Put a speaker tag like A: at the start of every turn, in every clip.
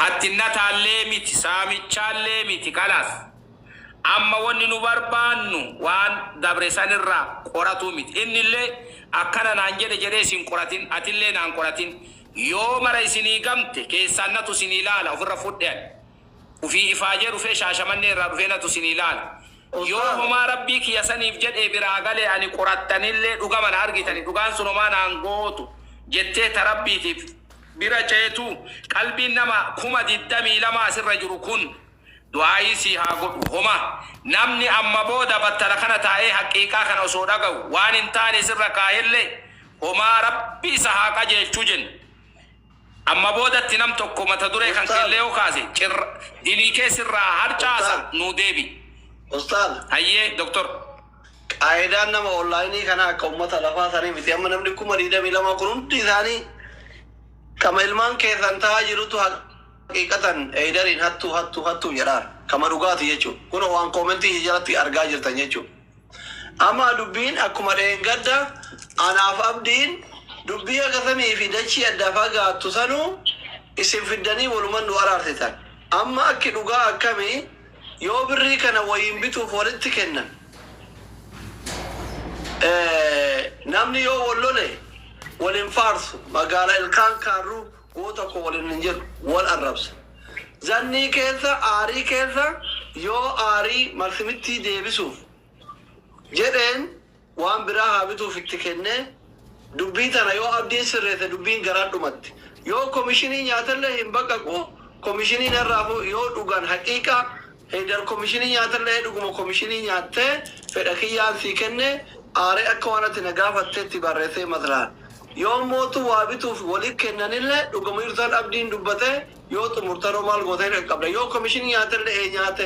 A: Hattinnataallee miti, saamichaallee miti, kalaas. Amma wonni nu barbaannu waan dabre san irraa qoratuu miti. Innillee, Akkana naan jedhe jedhee isin qoratin, atillee naan qoratin. Yoo mara isinii gamte, keessaan natu isinii laala, ufirra fudhe ani. Ufii ifaajee dhufee Shaashamannee irraa dhufee natu isinii laala. Yoo homaa Rabbii kiyya saniif jedhee biraa gale ani qorattanillee dhugama na argitanii dhugaan sun homaa naan gootu jettee ta Rabbiitiif. bira ceetu qalbiin nama kuma digdamii lama asirra jiru kun du'aa'ii sii haa godhu homa namni amma booda battala kana taa'ee haqqiiqaa kana osoo dhaga'u waan hin taane sirra kaahelle homaa rabbi isa haa qajeelchu jenna amma boodatti nam tokko mata duree kan Ustaaz. keelle yoo kaase cirra diniikee sirraa harcaasa Ustaaz. nuu deebi Ustaaz.
B: hayyee doktor
A: Qaayidaan
B: nama online kanaa akka ummata lafaa sanii miti. Amma namni 22,000 kun hundi isaanii kama ilmaan keessan ta'aa jirutu haqiiqatan Heydariin hattuu hattuu hattuu jedhaan. Kama dhugaati jechuu. Kunoo waan comment ishee jalatti argaa jirtan jechuu. Amma dubbiin akkuma dheengadda anaaf abdiin dubbii akka samii fi dachii adda fagaattu sanuu isin fiddanii waluman nu araarsitan. Amma akki dhugaa akkamii Yoo birrii kana wayiin bituuf walitti kennan namni yoo wal lole wal hin faarsu magaala ilkaan kaarruu goota koo waliin hin jedhu wal arrabsa. Zannii keessa aarii keessa yoo aarii marsimittii deebisuuf jedheen waan biraa haa bituuf itti kennee dubbii tana yoo Abdiin sirreesse dubbiin garaa dhumatti. Yoo komishinii nyaatellee hin baqaqu komishinii narraafu yoo dhugan haqiiqa Heydar komishinii nyaatellee dhuguma komishinii nyaattee fedha kiyyaan sii kenne aaree akka waan ati na gaafatteetti barreessee maslahan. Yoon mootu waa bituuf wali kennanillee dhugama jirtu tan Abdiin dubbatee yoo xumurtanoo maal goota hin qaqqabda yoo komishinii nyaatellee ee nyaate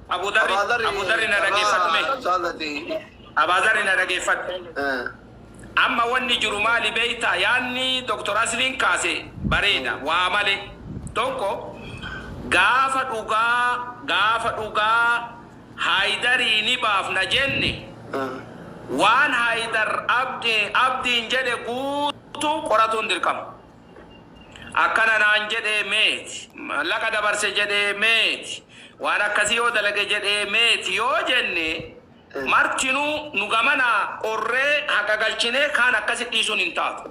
A: Abu dharri Abu dharri na dhageeffadhu mee Abaazari na dhageeffadhu Amma wanni jiru maali beeytaa yaanni Doktor Asliin kaase bareeda waa malee tokko gaafa dhugaa gaafa dhugaa Haayidarii ni baafna jenne waan Haayidar Abdiin jedhe guutuu qoratuun dirqama Akkana naan jedhe meeti. Maallaqa dabarse jedhe meeti. Waan akkasii yoo dalage jedhe meeti yoo jenne martinuu nu gamanaa qorree haqa galchinee kaan akkasi dhiisuun hin taatu.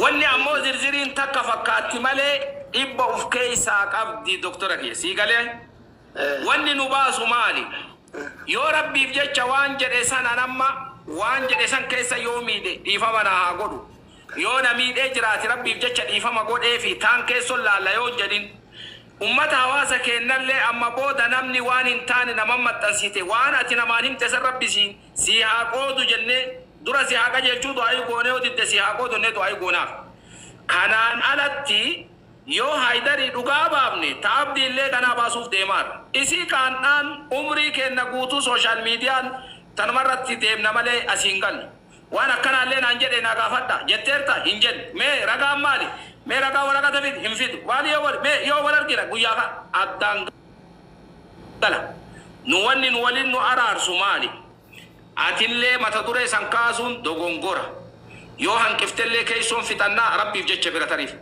A: Wanni ammoo zirziriin takka fakkaatti malee dhibba uf keessaa qabdi doktora kiyya. Sii galee? Wanni nu baasu maali? Yoo Rabbiif jecha waan jedhe san an amma waan jedhe san keessa yoo miidhe dhiifama naa haa godhu. Yoo na miidhee jiraate rabbiif jecha dhiifama godheefi taan keesson laalla yoo hin jedhin. Ummata hawaasa keennallee amma booda namni waan hin taane naman maxxansite waan ati namaan himte san rabbi si sii haa qoodu jennee dura si haa qajeelchuu du'aayii goone yoo didde sii haa qoodu jennee du'aayii goonaaf. Kanaan alatti yoo Haydarii dhugaa baafne ta Abdiillee kanaa baasuuf deemaarra. Isii kaandhaan umrii keenna guutuu social median tanumarratti deemna malee asii hin gallu. Waan akkanaallee naan jedhe naa gaafadhaa? jetteertaa? hin jenne. Mee ragaan maali? Mee ragaa waraqata fidi, hin fidu. Maali yoo wal, mee yoo wal argina guyyaa ka, addaan gala. Nu wanni nu waliin nu araarsu maali? Atillee mata duree san kaasuun dogongora. Yoo hanqiftellee keessoon fixannaa Rabbiif jecha bira tariif.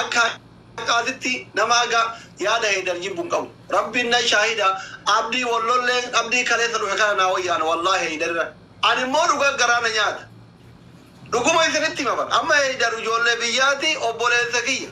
B: akka haqaatitti nama haga yaada heydar jibbu hin qabu rabbiin na shaahida abdii wal lollee abdii kaleessa dhufe kana naa wayyaana wallaahi heydarirra ani immoo dhugaa garaa na nyaata dhuguma isinitti hima bar amma heydar ijoollee biyyaati obboleessa kiyya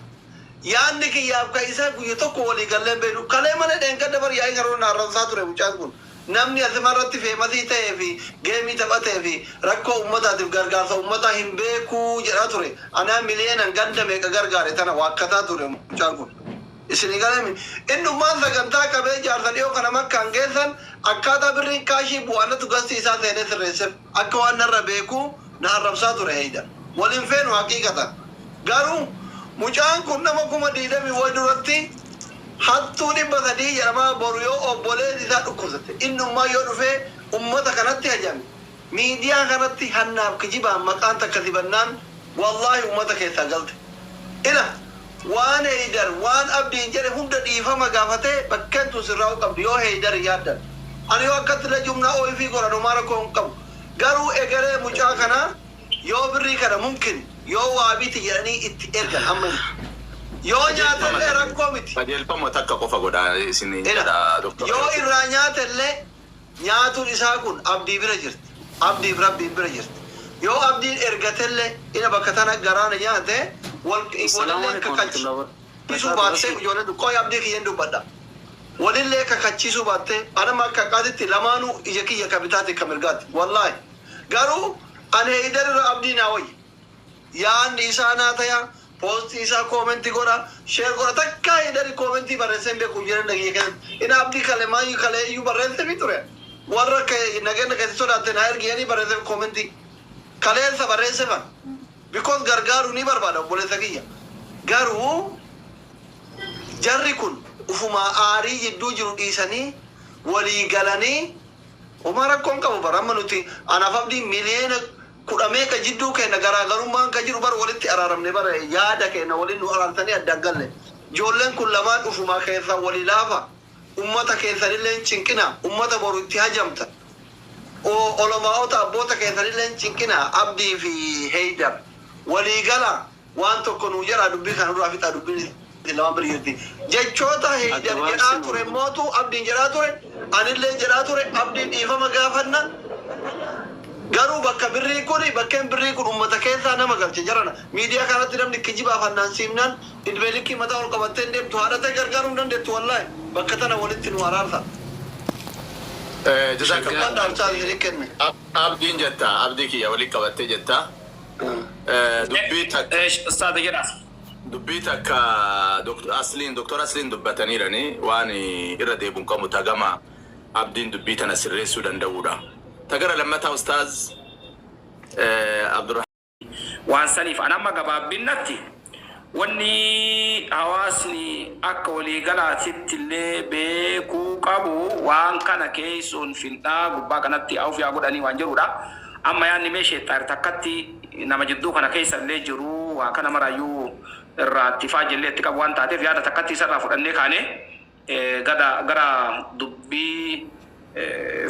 B: yaanni kiyyaaf ka isaa guyya tokko walii gallee hin beeynu kalee malee dheengadda bar yaa'ii karoora na arrabsaa ture mucaan kun Namni asimarratti feemasii ta'ee fi geemii taphatee fi rakkoo ummataatiif gargaarsa ummataa hin beeku jedhaa ture. Anaa miliyeenan ganda meeqa gargaare tana waakkataa ture mucaan kun. Isinii galeemi? Innummaan sagantaa qabee jaarsa dhiyoo kana makkaan geessan akkaataa birriin kaashii bu'aa natu gastii isaa seenee sirreessef. Akka waan narra beekuu na arrabsaa ture Eeydan. Wal hin feenu haqiiqatan. Garuu mucaan kun nama 20,000 wayi duratti hattuu 300 jedhamaa boru yoo obboleeti isaa dhukkubsatte innummaa yoo dhufee ummata kanatti hajame miidiyaa kanatti hannaaf kijibaan maqaan takka dibannaan wallaahi ummata keessaa galte. Ila Waan Heydar waan Abdiin jedhe hunda dhiifama gaafatee bakkeen tun sirraa'uu qabdi yoo Heydar yaaddan. Ani yoo akkatti Najum na oifii godhan homaa rakkoo hin qabu. Garuu egeree mucaa kanaa yoo birrii kana mumkin yoo waa biti jedhanii itti ergan ammayyuu. Yoo nyaatellee rakkoo miti. Qajeelfama takka qofa
C: godhaa isiniin jedha Dr. Yoo irraa nyaatellee
B: Nyaatun isaa kun Abdii bira jirti. Abdiif Rabbiin bira jirti. Yoo Abdiin ergatellee ina bakka tana garaa na nyaate wal walillee kakach isuu baattee ijoollee du qoy Abdii kiyyan dubbadha. Walillee kakachiisuu baattee an amma akka haqaatitti lamaanuu ija kiyya ka bitaatii ka mirgaati. Wallaahi. Garuu an Heeydar irra Abdii naa wayya. Yaanni isaa naa taya Post isaa comment godha share godha takkaa hidari comment barreessee hin beeku jireenya kiyya keessatti in abdii kale mayyu kale iyyuu barreesseefi ture warra ke nageenya kee si sodaatte naa ergi jedhanii barreesseef comment kaleessa barreesseefan because gargaaruu ni barbaada obboleessa kiyya garuu jarri kun ufumaa aarii jidduu jiru dhiisanii walii galanii homaa rakkoo hin qabu bar amma nuti anaaf abdiin miliyoona kudha meeqa jidduu keenna garaagarummaan ka jiru bar walitti araaramne bar yaada keenna waliin nu araartanii adda hin galle ijoolleen kun lamaan ufumaa keessan walii laafa ummata keessanillee hin cinqina ummata boru itti hajamta o olamaa'ota abboota keessanillee hin cinqina abdii fi heydar walii gala Waan tokko nuu jedhaa dubbii kana nurraa fixaa dubbiin isin lamaan bira jirti. Jechoota Heydar jedhaa ture mootu Abdiin jedhaa ture, anillee jedhaa ture Abdiin dhiifama gaafanna garuu bakka birrii kuni bakkeen birrii kun ummata keessaa nama galche jarana miidiyaa kanarratti namni kijibaa fannaansiifnaan idmee likkii mataa ol qabattee hin deemtu haadha tee gargaaruu hin dandettu wallahi bakka tana walitti nuu araarsa Jazakallah Dhaamsaa isinii
C: kenne. Abdiin jetta abdii kiyya wali qabatte jetta. Dubbii takka. Eesh ustaaza jedhaa. Dubbii takka Dr. Asliin Dr. Asliin dubbataniirani waan irra deebi'u hin qabu ta gama Abdiin dubbii tana sirreessuu danda'uudha. Ta gara lammataa ustaaz Abdurrahmaan. Waan saniif an
A: amma gabaabinnatti Wanni hawaasni akka waliigalaatitti illee beekuu qabu waan kana keessoon findhaa gubbaa kanatti awf yaa godhanii waan jedhuu dha. Amma yaadni mee sheexxaar takkatti nama jidduu kana keessa illee jiru waa kana maraayyuu irraa ittifaa jellee itti qabu waan taateef yaada takkatti isa irraa fudhannee kaanee, Gada gara dubbii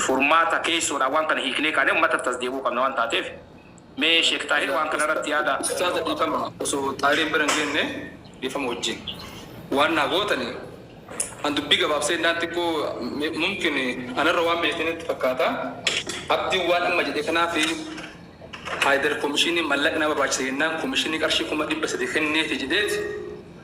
A: furmaata keessoodhaan waan kana hiiknee kaanee ummata irratti as deebi'uu qabna waan taateef mee Sheek Xaahir waan kana irratti yaada. Ustaaza dhiifama
D: osoo Xaahiriin bira hin geenne dhiifama wajjin waan naa gootani an dubbii gabaabsee jennaan xiqqoo mumkin ana irra waan beektan natti fakkaata Abdiin waan amma jedhe kanaaf Haayidar komishiiniin mallaqni na barbaachisa jennaan komishiinii qarshii 300,000 kenneefi jedheeti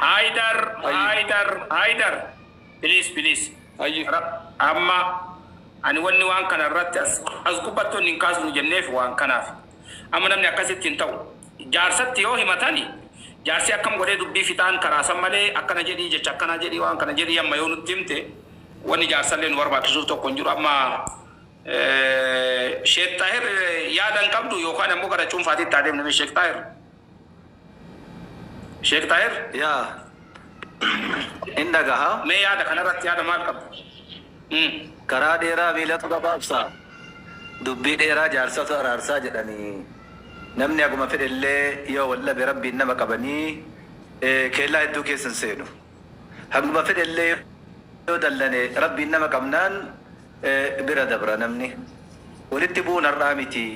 A: Haydar Hayye. Haydar Haydar please please Hayye. Ra- amma ani wanni waan kana irratti as as gubbatti wanni hin kaasnu jenneef waan kanaaf amma namni akkasitti hin ta'u jaarsatti yoo himatani jaarsi akkam godhee dubbii fixaan karaa san malee akkana jedhii jecha akkanaa jedhii waan kana jedhii amma yoo nutti himte wanni jaarsallee nu barbaachisuuf tokko hin jiru amma eh, Sheek Xaahir eh, yaada hin qabdu yookaan ammoo gara cuunfaatitti adeemna mee Sheek Xaahir. Sheek Xaahir? Yaa.
E: Hin dhagaha. Mee yaada kanarratti yaada
A: maal qabdu? Umm.
E: Karaa dheeraa miilatu gabaabsa, dubbii dheeraa jaarsatu araarsa jedhanii. Namni haguma fedhellee yoo wal dhabe Rabbiin nama qabanii keellaa hedduu keessa hin seenu. Haguma fedhellee yoo dallane Rabbiin nama qabnaan bira dabra namni. Walitti bu'uun har'aa miti.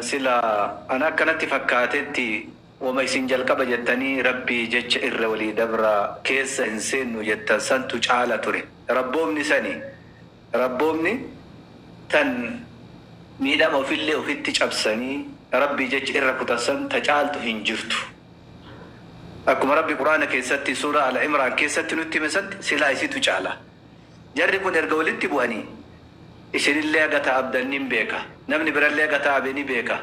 E: Sila ana akka natti fakkaatetti woma isin jalqaba jettanii Rabbii jecha irra walii dabraa keessa hin seennu jettan santu caala ture. Rabboomni sani. Rabboomni tan miidhama ofillee ofitti cabsanii Rabbii jecha irra kutan san ta caaltu hin jirtu. Akkuma Rabbi Qur'aana keessatti Suuraa Al-Imraan keessatti nutti hime san silaa isitu caala. Jarri kun erga walitti bu'anii isinillee haga taa'abdan nin beeka, namni birallee haga taa'abe ni beeka.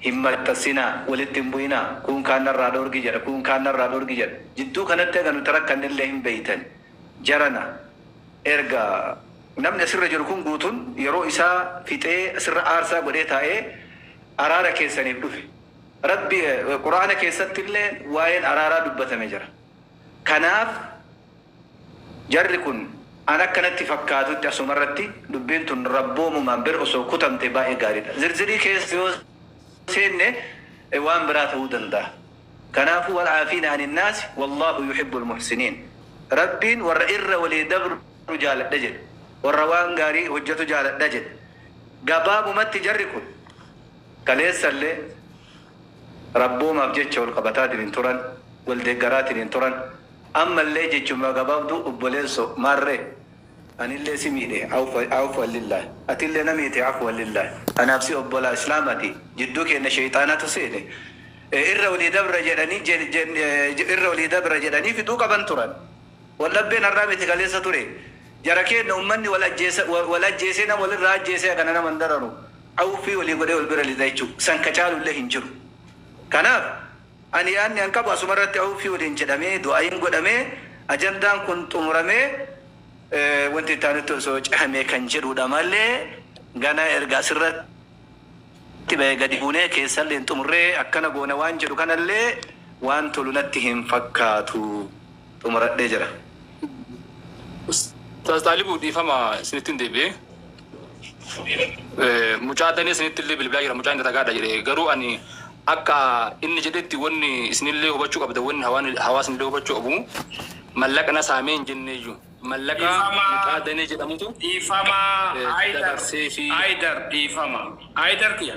E: Hin maxxassinaa, walitti hin bu'inaa, kuun kaan narraa dhoorgi jedha, kuun kaan narraa dhoorgi jedha. Jidduu kanatti haga nuti rakkannellee hin beeytani. Jarana. Erga namni asirra jiru kun guutun yeroo isaa fixee asirra aarsaa godhee taa'ee araara keessaniif dhufe. Rabbi Qur'aana keessatti illee waa'een araaraa dubbatame jira. Kanaaf jarri kun an akka natti fakkaatutti asuma irratti dubbiin tun Rabboomumaan bir osoo kutamte baay'ee gaariidha. Zirzirii keessa yoo seenne waan biraa ta'uu danda'a. Kanaafuu wal'aafiina aninnaasi wallaahu yuhibbul muhsiniin Rabbiin warra irra walii dabru jaaladha jedhe, warra waan gaarii hojjatu jaaladha jedhe. Gabaabumatti jarri kun kaleessallee Rabboomaaf jecha wal qabataatiniin turan, wal deeggaraatiniin turan, ammallee jechuma gabaabduu obboleessoo maarree? Anillee si miidhe Aafwan lillaah Atillee na miite Aafwan lillaah Anaaf si obbolaa islaamati Jidduu keenna sheyxaanatu seene e Irra olii dabra jedhanii jedhanii Irra olii dabra jedhanii fixuu qaban turan Waldhabbeen har'aa miti kaleessa ture Jara keenna ummanni wal ajjeesa wal ajjeesee nama walirraa ajjeesee Hagana nama hin dararu Auuffii olii godhee wal bira lixa jechuu San ka caalullee hin jiru Kanaaf Ani yaadni an qabu asuma irratti Awuffii waliin jedhamee, du'aayiin godhamee, ajandaan kun xumuramee wanti itti aanutti osoo cehamee kan jedhuudha malee ganaa erga asirratti bahee gadi buunee keessallee hin xumurree akkana goona waan jedhu kanallee waan tolu natti hin fakkaatu. xumuradhee jira. Ustaaz
D: Xaalibu dhiifama isinittin deebi'e. Mucaa Danee sanittillee bilbilaa jira mucaan daragaadha jedhe garuu ani akka inni jedhetti wanni isinillee hubachuu qabda wanni hawaan hawaasinillee hubachuu qabu mallaqa na saamee hin jenneeyyu mallaqa Dhiifama mucaa Danee jedhamutu dhiifama
A: eh, Haydar dabarseefi. Haydar dhiifama Haydar kiyya.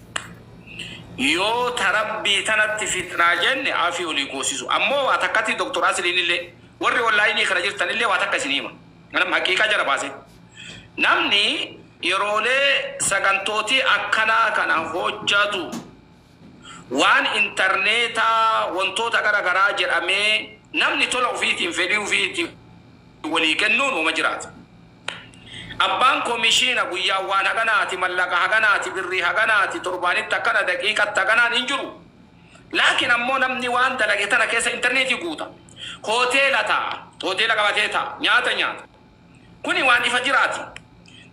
A: Yoo ta rabbii tanatti fitnaa jenne afii olii goosisu. Ammoo waa takkatti Doktor Asliinillee warri onlaayinii kana jirtanillee waa takka isinii hima. Anam haqiiqaa jala baasee. Namni yeroolee sagantootii akkanaa kana hojjatu waan intarneetaa wantoota gara garaa jedhamee namni tola ufiitiin fedhii ufiitiin walii kennuun woma jiraata. Abbaan komishiina guyyaan waan haganaati, mallaqa haganaati, birrii haganaati, torbaanitti akkana, daqiiqatti haganaan hin jiru. Laakiin ammoo namni waan dalage tana keessa interneetii guuta. Hoteela taa'a, hoteela qabatee taa'a, nyaata nyaata. Kuni waan ifa jiraati.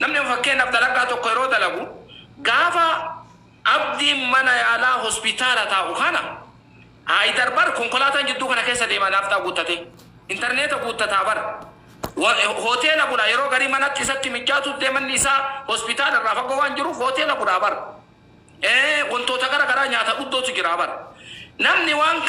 A: Namni amma fakkeenyaaf dalagaa tokko yeroo dalagu gaafa. Abdiin mana yaalaa hospitaala taa'u kana Haayidar bar konkolaataan jidduu kana keessa deema naafxaa guuttatee. Interneeta guuttataa bar. Hoteela bula yeroo garii manatti isatti mijjaatuut dee manni isaa hospitaala irraa fagoo waan jiruuf hoteela bulaa bar. Ee wantoota gara garaa nyaata dhuddootu jiraa bar. Namni waan kana.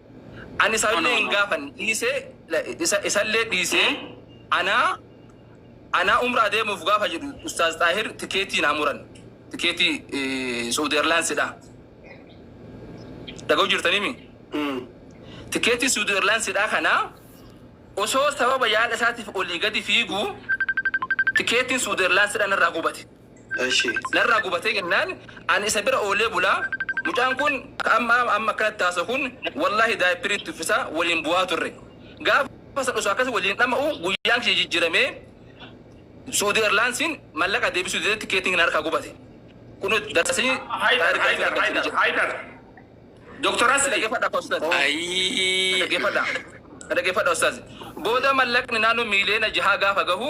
D: Ani isa illee hin gaafanne dhiisee isa isa illee dhiisee anaa anaa umraa deemuuf gaafa jedhu ustaaz xaahir tikeetii naa muran tikeetii eh, suudi erlaansidha dhaga'u jirtanimi tikeetii suudi erlaansidha kana osoo sababa yaala isaatiif olii gadi fiigu tikeetiin suudi erlaansidha narraa gubate Eshi. Narraa gubatee jennaan ani isa bira oolee bula mucaan kun amma amma akkanatti haasawu kun wallaahi daayippirii itti uffisa waliin bu'aa turre gaafa san osoo akkas waliin dhama'u guyyaan kiyya jijjiramee suudi erlaansiin mallaqa deebisuu didee tikeetiin na harkaa gubate kunu darsii Haydar, taarikaa isin Haydar, argamsiise Haydar, jedhe
A: Haydar. Doktor na Asli. dhageeffadha akka ustaaz na
D: Ayii. dhageeffadha na dhageeffadha ustaaz booda mallaqni naannoo miiliyoona jahaa gaafa gahu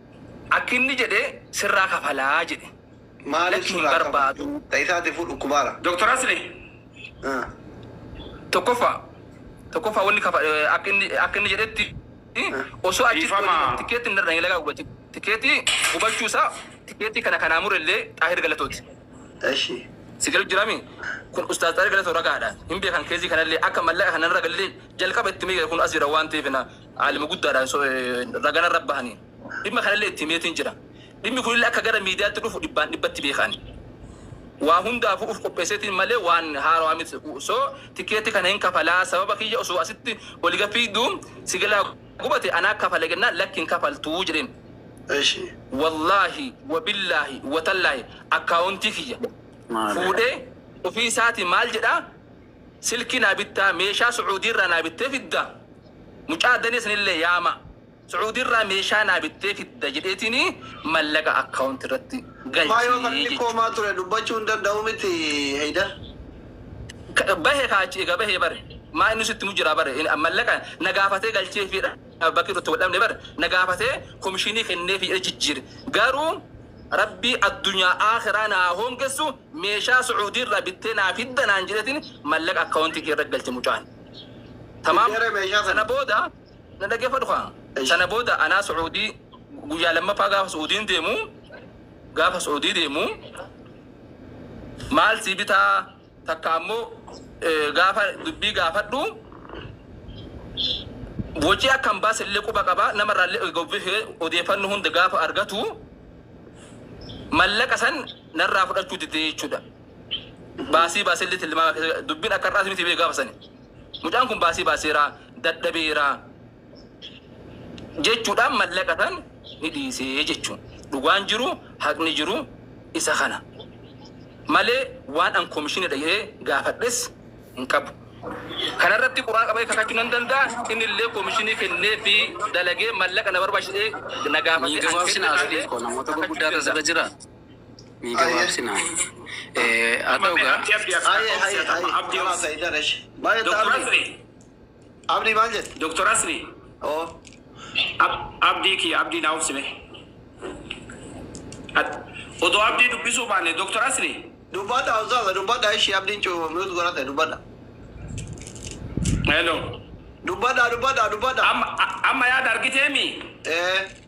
D: Akki inni jedhe sirraa kafalaa jedhe. Maaliif Lakki hin surraa
B: kafala? barbaadu.
D: Ta isaatiifuu
B: dhukkubaara. Doktar Asli Ah.
A: tokkoffaa
D: tokkoffaa wanni kafa akka inni akka inni jedhetti osoo achi Dhiifama. deemu tikeetti narra hin lagaa gubate tikeetti gubachuu isaa tikeetti kana kanaa murellee xaahir galatooti Eshi.
B: si galu jirami
D: kun ustaaz xaahir galatoo ragaadha hin beekan keezii kanallee akka mallaqa kana narra gallee jalqaba itti miidhe kun as jira waan ta'eef na Aalima guddaadhaan so, eh, raga narra bahaniin. Dhimma kanallee itti himeetiin jira. Dhimmi kunillee akka gara miidiyaatti dhufu dhibbaan dhibbatti beeka ani. Waa hundaafuu uf qopheesseetiin malee waan haarawaa miti. So, tikeetti kana hin kafalaa sababa kiyya osoo asitti oliga fiigdu sigalaa gubate anaa kafale jennaan lakki hin kafaltuu jedheen. Eshi.
B: Wallaahi
D: wabillaahi watallaahi akkaawuntii kiyya Maale. fuudhee ofii isaatii maal jedhaa? silkii naa bittaa meeshaa sucuudii irraa naa bittee fidda mucaa danee sanillee yaama sucuudii irraa meeshaa naa bittee fidda jedheetiin mallaqa account irratti Maa yoo galchii falmi koo maa
B: jechuudha. ture dubbachuu hin danda'u miti Heydar.
D: Ka- Bahe kaa achi egaa bahee bare maa inni sitti mu jira bare In- mallaqa na gaafatee galchee fi bakki itti wal dhabne bare na gaafatee komishinii kennee fi jijjiire garuu Rabbii addunyaa aakhiraa na haa hoongessu meeshaa su'uudii irraa bittee naa fidda naan jedheetiin mallaqa account kiyya irra galche mucaan. Tamaam sana booda na dhageeffadhu kaa sana booda anaa su'uudii guyyaa lammaffaa gaafa su'uudiin deemu gaafa su'uudii deemu maal sii bitaa takka ammoo gaafa dubbii gaafadhu wocii akka hin baase illee quba qaba nama irraa illee gobbifee odeeffannoo hunda gaafa argatu mallaqa san narraa fudhachuu didee jechuudha. Baasii baasee illee tilmaama keessa dubbiin akka har'aas miti bee gaafa sani. Mucaan kun baasii baaseera dadhabeera. jechuudhaan mallaqa san ni dhiise jechuun dhugaan jiru haqni jiru isa kana malee waan an komishinidha jedhee gaafadhes hin qabu. Kana irratti quraan qabee kakachuu nan danda'a inni illee komishinii kennee fi dalagee mallaqa na barbaachisa jedhee na gaafate Mii gabaabsinaa Sadiq
F: koo namoota gurguddaa irra sirra jira Mii gabaabsinaa Haa ta'u gaa Haye haye
B: haye. Abdi Abdi Abdi. Baye Doktor Abdi. Abdi maal jette? Doktar Asli
A: oo
B: ab
A: abdii kiyya abdii naa obsi mee Ad odoo abdii dubbisuu baanne Doktar Asli. Dubbadha ustaaza
B: dubbadha ishi abdiin cu mute godhate dubbadha.
A: Hello. Dubbadha dubbadha
B: dubbadha. Amma amma
A: yaada argiteemi? Ee.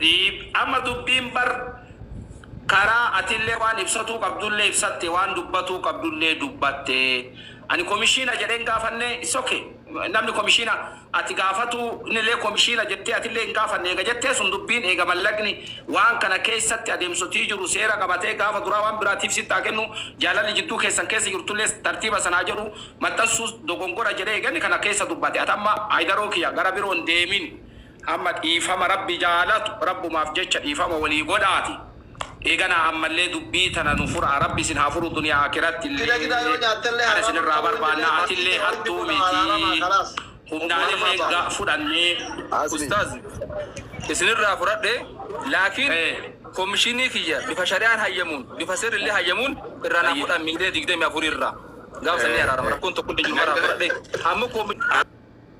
A: Dhiifama dubbiin bar karaa atillee waan ibsatuu qabdullee ibsatte waan dubbatuu qabdullee dubbatte ani komishiina jedhee hin gaafanne it's ok namni komishiina ati gaafatuu innillee komishiina jettee atillee hin gaafanne eega jettee sun dubbiin eega mallaqni waan kana keessatti adeemsotii jiru seera qabatee gaafa duraa waan biraatiif sitti haa kennu jaalalli jidduu keessan keessa jirtullee tartiiba san haa jedhu maxxansuu dogongora jedhee eega inni kana keessa dubbate ati amma Haydaroo kiyya gara biroo hin deemin Hamma dhiifama Rabbi jaalatu Rabbumaaf jecha dhiifama walii godhaati. Eeganaa ammallee dubbii tana nu furaa. Rabbi isin haa furu duniyaa akirattillee. Kana isinirraa barbaanna. Atillee hattuu miti. Humnaanillee ga fudhannee. Ustaaz
D: isinirraa furadhe laakiin komishinii kiyya bifa shari'aan hayyamuun bifa seerrillee hayyamuun irraa naa fudhan miilee 24 irraa gaaf san ni araarama rakkoon tokkollee hin jiru irraa furadhe amma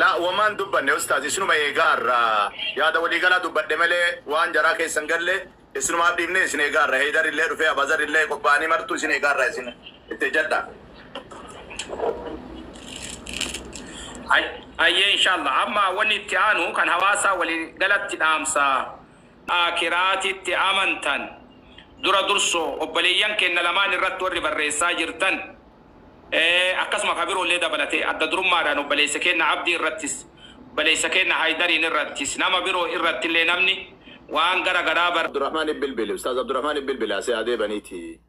C: Laa woma hin dubbanne ustaaz isinuma eegaa irra yaada walii galaa dubbadhe malee waan jaraa keessa hin galle isinumaaf dhiifne isin eegaa irra heydar illee dhufee abazar illee qopha'anii martuu isin eegaa irra isin itti ejjadhaa.
A: Hayyee inshallah amma wanni itti aanu kan hawaasaa walii galatti dhaamsa aakiraatitti amantan dura dursoo obboleeyyan keenna lamaan irratti warri barreessaa jirtan akkasuma ka biroollee dabalatee adda durummaadhaan obboleessa keenna Abdii irrattis, obboleessa keenna Haydariin irrattis, nama biroo irrattillee namni waan gara garaa bar. Abdurahmaan Ibn Bilbil,
C: Ustaaz Abdurahmaan Ibn Bilbil asii haa deebaniiti.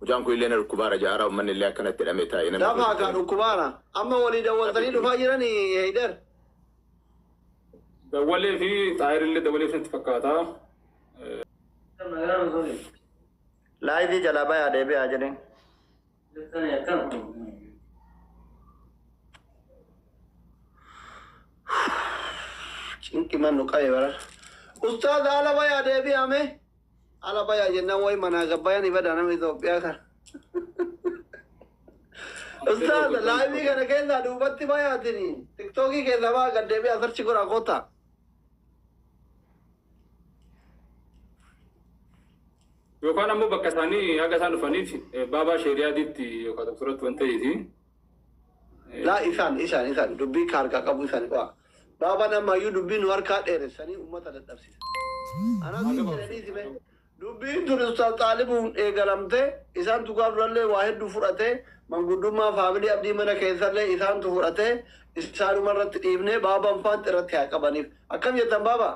C: Mucaan kun illee na dhukkubaara ja'a hara ummanni illee akkana itti hidhamee taa'e namni Dafaa kaa hojjeteen. dhukkubaara.
B: Amma walii dawwaltanii Rabbiitu dhufaa beeka. jiranii Haydar?
D: Dawwalee fi Xaahir illee dawwaleef natti fakkaata.
B: Laayivii jalaa bayaa deebi'aa jedhin. Cinqi man nu qabe bara. Ustaaz ala bayaa deebi'aa mee. Ala bayaa jennaan wayi manaa gabbayan ibada nama Itoophiyaa kan. Ustaaz laayivii kana keessaa duubatti bayaatini. Tiktookii keessaa baa gad deebi'aa sarchi godhaa kootaa.
D: Yookaan ammoo bakka isaanii haga isaan dhufaniif baabaa sheeriyaadiitti yookaan tokkoratti waan ta'eefi.
B: Laa isaan isaan isaan dubbii ka harkaa qabuu isaan qo'aa. Baabaan ammaayyuu dubbii nu harkaa dheeressanii uummata dadhabsiisa. Anaa siin jedhanii si mee dubbiin tun Ustaaz Xaalibuun eegalamtee isaan tukaa durallee waa hedduu fudhatee manguddummaa faamilii Abdii mana keessallee isaantu fudhatee isaanuma irratti dhiifnee baabaan faanti irratti haa qabaniif. Akkam jettan baabaa?